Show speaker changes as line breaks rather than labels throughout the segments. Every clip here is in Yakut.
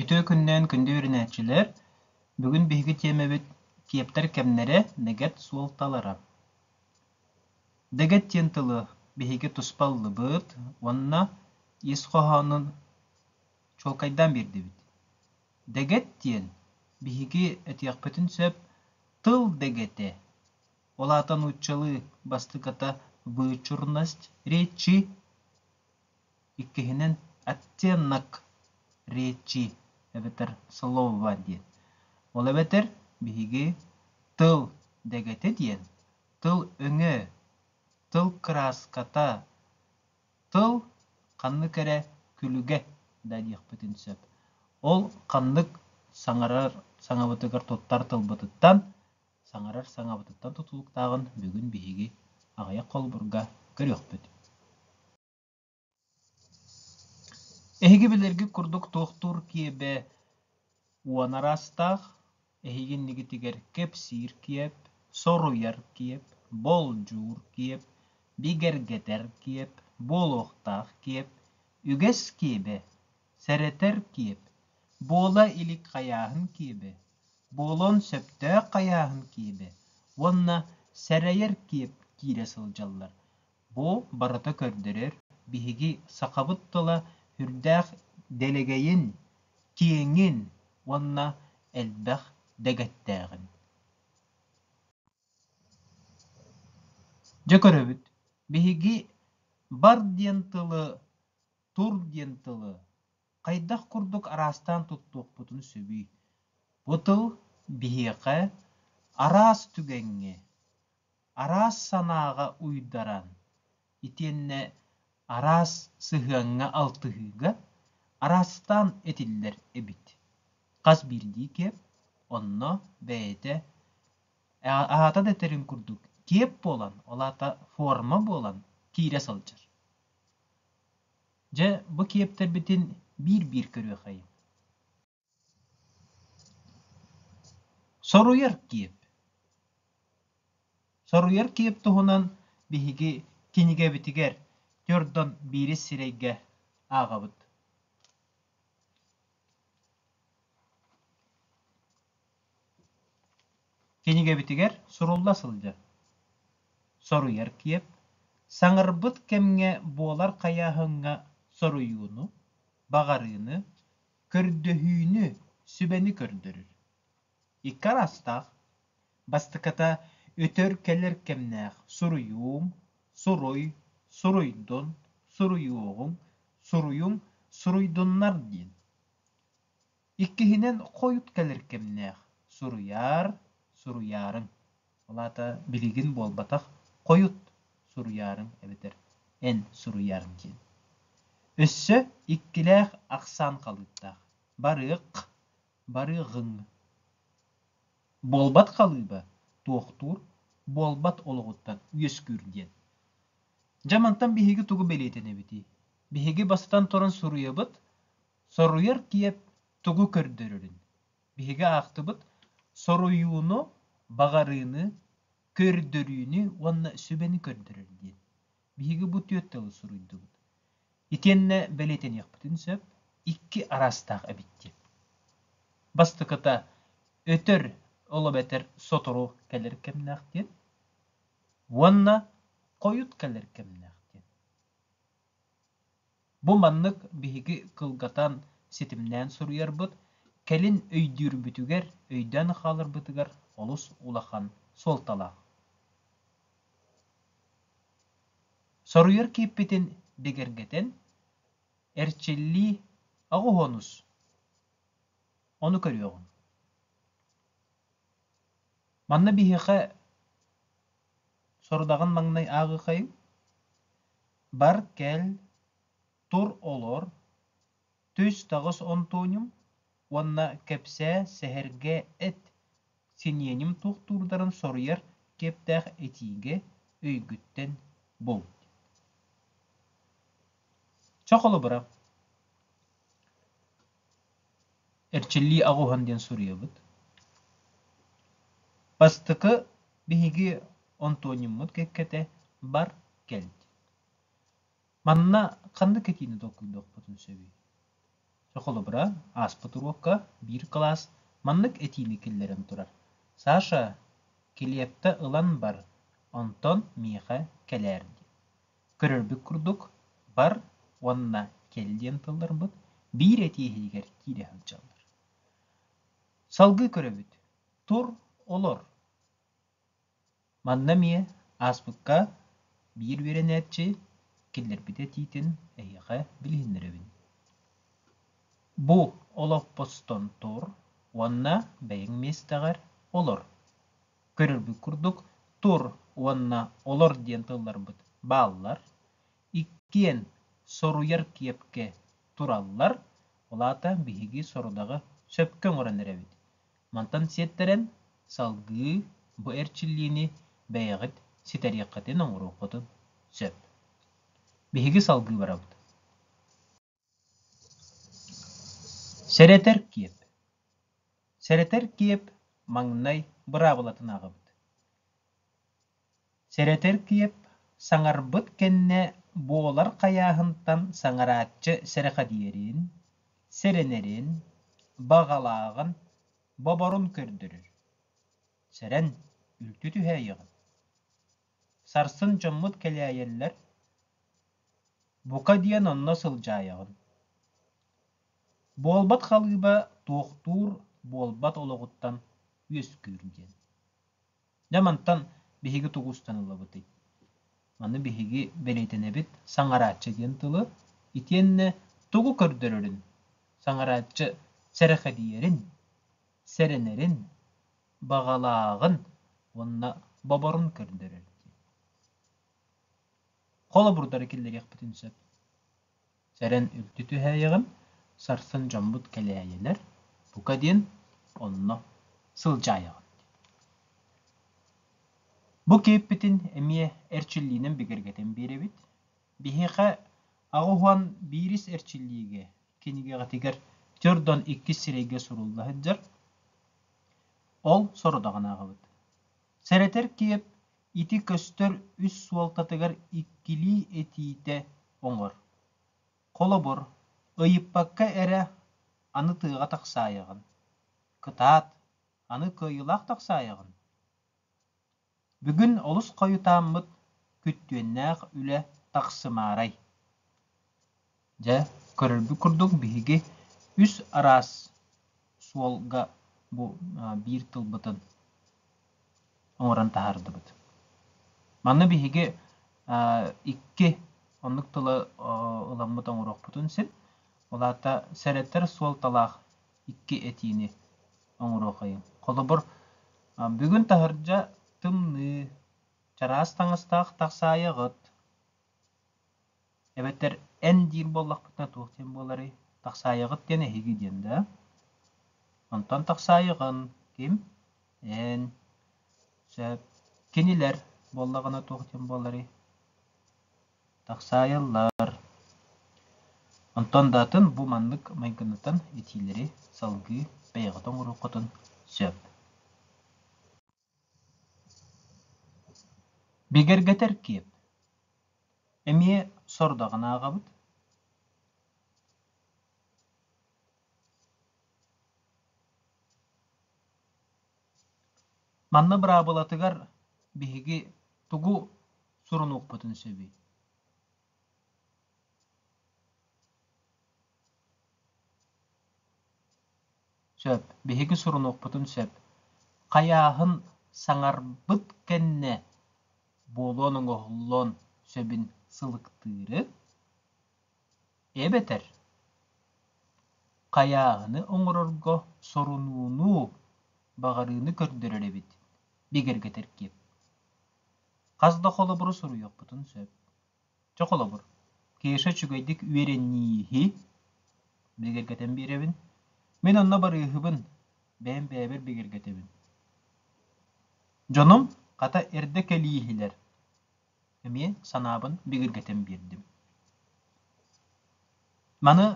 Үтүө күннээн күндү үөрэнээччилэр! Бүгүн биһиги тиэмэбит «Киэптэр кэмнэрэ. Дэгэт суолталара». Дэгэт диэн тылы биһиги туспа ыллыбыт уонна ис хоһоонун чуолкайдаан биэрдибит. Дэгэт диэн биһиги этиэхпитин сөп тыл дэгэтэ, ол аата нууччалыы бастакыта «вычурность речи» Иккиһинэн, оттенок речи эбэтэр слово диэн. Ол эбэтэр биһиги тыл дэгэтэ диэн тыл өҥө, тыл кырааската, тыл ханнык эрэ күлүгэ да диэхпитин сөп. Ол ханнык саҥарар саҥабытыгар туттар тылбытыттан саҥарар саҥабытыттан тутулуктааҕын бүгүн биһиги аҕыйах холобурга көрүөхпүт Эһиги билэргит курдук туохтуур киэбэ уон араастаах, эһиги иннигитигэр кэпсиир киэп, соруйар киэп, болдьуур киэп, бигэргэтэр киэп, буолуохтаах киэп, үгэс киэбэ, сэрэтэр киэп, буола илик хайааһын киэбэ, буолуон сөптөөх хайааһын киэбэ уонна сэрэйэр киэп киирэ сылдьаллар. Бу барыта көрдөрөр биһиги сахабыт тыла сүрдээх дэлэгэйин, киэҥин уонна элбэх дэгэттээҕин. Дьэ көрөбүт, биһиги бар диэн тылы Тур диэн тылы хайдах курдук араастаан туттуохпутун сөбүй? Бу тыл биһиэхэ араас түгэҥҥэ, араас санааҕа уйдаран, итиэннэ араас сыһыаҥҥа алтыһыыга араастаан этиллэр эбит. Хас биирдиикэ онно бэйэтэ аата да этэрин курдук тиэп буолан, ол аата форма буолан киирэ сылдьар. Дьэ, бу киэптэрбитин биир-биир көрүөххэйиҥ Соруйар киэп Соруйар киэп туһунан биһиги кинигэбитигэр төрдөн биирис сирэйгэ ааҕабыт Кинигэбитигэр сурулла сылдьар, соруйар киэп, саҥарбыт кэмҥэ буолар хайааһыҥҥа соруйууну, баҕарыыны, көрдөһүүнү, сүбэни көрдөрөр. Икки араастаах. Бастакыта өтөр-кэлэр кэмнээх суруйуум, суруй, суруйдун, суруйуоҕуҥ, суруйуҥ, суруйдуннар диэн. Иккиһинэн, хойут кэлэр кэмнээх. Суруйаар, суруйаарыҥ. Ол аата билигин буолбатах хойут суруйаарыҥ эбэтэр эн суруйаарыҥ диэн. Өссө иккилээх ахсаан халыыптаах. Барыах, барыаҕыҥ. Буолбат халыыба туохтуур, буолбат олоҕуттан үөскүүр диэн. Дьэ мантан биһиги тугу бэлиэтэнэбитий? Биһиги бастатан туран суруйабыт, Соруйар тиэп тугу көрдөрөрүн биһиги аахтыбыт, соруйууну, баҕарыыны, көрдөрүүнү уонна сүбэни көрдөрөр диэн. Биһиги бу түөрт тылы суруйдубут. Итиэннэ бэлиэтэниэхпитин сөп, икки араастаах эбит диэн. Бастакыта өтөр, ол эбэтэр сотору кэлэр кэмнээх диэн. Уонна хойут кэлэр кэмнээх диэн. Бу маннык биһиги кылгатан, ситимнээн суруйарбыт, кэлин өйдүүрбүтүгэр, өйдөөн хааларбытыгар олус улахан суолталаах. Соруйар кииппитин бигэргэтэн, эрчиллии аҕыһонус ону көрүөҕүҥ. Манна биһиэхэ Сорудаҕын маҥнай ааҕыаххайыҥ бар кэл тур олор түс таҕыс Антоним уонна кэпсээ сэһэргэ эт синиэним туохтуурдарын соруйар киэптээх этиигэ өйгүттэн бул Чохолобура эрчиллии аҕуһан диэн суруйабыт. Бастакы биһиги Антониммыт кэккэтэ бар кэлт. Манна ханнык этиини толкуйдуохпутун сөбүй? Чэ, холобура, ааспыт уруокка биир кылаас маннык этиини киллэрэн турар. Саша, килиэппэ ылан бар, онтон миэхэ кэлээр диэн. Көрөрбүт курдук, бар уонна кэл диэн тылларбыт биир этии иһигэр киирэ сылдьаллар. Салгыы көрөбүт. Тур, олор. Манна эмиэ ааспыкка биир үөрэнээччи киллэрбит этиитин эһиэхэ билиһиннэрэбин. Бу олоппостон тур уонна бэйэҥ миэстэҕэр олор. көрөрбүт курдук тур уонна олор диэн тылларбыт бааллар. Иккиэн соруйар киэпкэ тураллар, ол аата биһиги сорудаҕы сөпкө оҥорон эрэбит. Мантан сиэттэрэн салгыы бу эрчиллиини бэйэҕит ситэриэххитин, оҥоруоххутун сөп. Биһиги салгыы барабыт. Сэрэтэр киэп Сэрэтэр киэп маҥнай быраабылатын аҕабыт. Сэрэтэр киэп саҥарбыт кэннэ буолар хайааһынтан саҥарааччы сэрэхэдийэрин, сэрэнэрин, баҕалааҕын, боборун көрдөрөр. Сэрэн, үлтү түһээйэҕин. Сарсын дьоммут кэлээйэллэр, бука диэн онно сылдьаайаҕын. Буолбат халыыба туохтуур, буолбат олоҕуттан үөскүүр диэн. Дьэ мантан биһиги тугу устаныллабытый? Маны биһиги бэлиэтэнэбит саҥарааччы диэн тылы. Итиэннэ тугу көрдөрөрүн, саҥарааччы сэрэхэдийэрин, сэрэнэрин, баҕалааҕын уонна боборун көрдөрөр дии. Холобурдары киллэриэхпитин сөп. Сэрэн үлтү түһээйэҕин, сарсын дьоммут кэлээйилэр, бука диэн онно сылдьаайаҕын. Бу кейппитин эмиэ эрчиллиинэн бигэргэтэн биэрэбит. Биһиэхэ аҕыс уон биирис эрчиллиигэ кинигэҕитигэр төрдөн иккис сирэйгэ сурулла сылдьар. Ол сорудаҕын ааҕабыт. Сэрэтэр киэп ити көстөр үс суолтатыгар иккилии этиитэ оҥор. Холобур, ыйыппакка эрэ аны тыаҕа тахсаайаҕын. Кытаат, аны кыайыылаах тахсаайаҕын. Бүгүн олус хойутааммыт, күттүөннээх үлэ тахсымаарай? Дьэ, көрөрбүт курдук, биһиги үс араас суолга бу биир тылбытын оҥорон таһаардыбыт. Манна биһиги икки оннук тылы ыламмыт оҥоруохпутун син, ол аата сэрэтэр суолталаах икки этиини оҥоруохайыҥ. Холобур, бүгүн таһырдьа тымныы, чараас таҥастаах тахсаайы аҕыт. Эбэтэр эн диир буоллахпытына туох диэн буоларый? Тахсаайыгыт диэн эһиги диэн да? Онтон тахсаайыгын ким? Эн. Сөп. Кинилэр буоллаҕына туох диэн буоларый? Тахсаайылар Онтон да атын бу маннык майгынатан итиилэри салгыы бэйэҕит оҥоруоххутун сөп Бигэргэтэр киэп Эмиэ сордаҕын ааҕабыт Манна быраабылатыгар биһиги тугу сурунуохпутун сөбүй сөп биһиги сурунуохпутун сөп хайааһын саҥарбыт кэннэ буолуон оҥоһуллуон сөбүн сылыктыыры эбэтэр хайааһыны оҥорорго сорунууну баҕарыыны көрдөрөр эбит бигэргэтэр киэп хас да холобуру суруйуохпутун сөп чэ холобур кеша үчүгэйдик үөрэнииһи бигэргэтэн биэрэбин мин онно барыыһыбын бэйэм бэйэбэр бигэргэтэбин дьонум хата эрдэ кэлииһилэр эмиэ санаабын бигиргэтэн биэрдим маны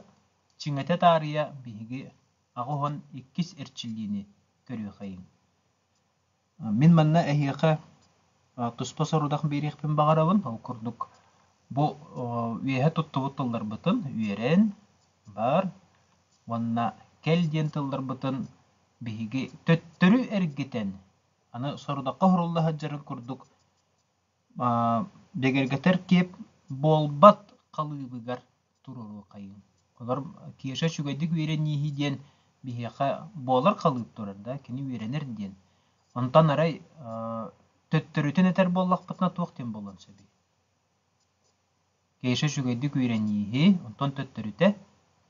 чиҥэтэ таарыйа биһиги аҕыс уон иккис эрчиллиини көрүөхэйиҥ мин манна эһиэхэ туспа сорудах биэриэхпин баҕарабын ол курдук бу үөһэ туттубут тылларбытын үөрэн бар уонна кэл диэн тылларбытын биһиги төттөрү эргитэн аны сорудахха уһурулла сылдьарын курдук Дэгэргэтэр киэп буолбат халыыбыгар туруоруоххайыҥ. Олор Кеша үчүгэйдик үөрэнииһи диэн биһиэхэ буолар халыып турар да, кини үөрэнэр диэн. Онтон арай төттөрүтүн этэр буоллахпытына туох диэн буолуон сөбүй? Кеша үчүгэйдик үөрэнииһи, онтон төттөрүтэ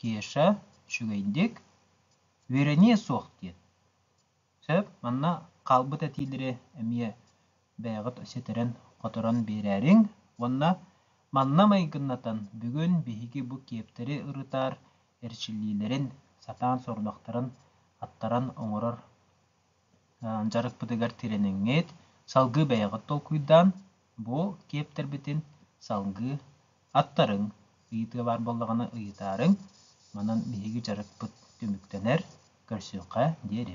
Кеша үчүгэйдик үөрэниэ суох диэн. Сөп, манна хаалбыт этиилэри эмиэ бэйэҕит ситэрэн-хоторон биэрээриҥ уонна манна майгыннатан бүгүн биһиги бу киэптэри ырытар эрчиллиилэрин сатаан сорудахтарын аттаран оҥорор дьарыкпытыгар тирэниҥҥит салгыы бэйэҕит толкуйдаан Буол киэптэрбитин салгыы аттарыҥ, ыйытыы баар буоллаҕына ыйытаарыҥ, манан биһиги дьарыкпыт түмүктэнэр, көрсүөххэ диэри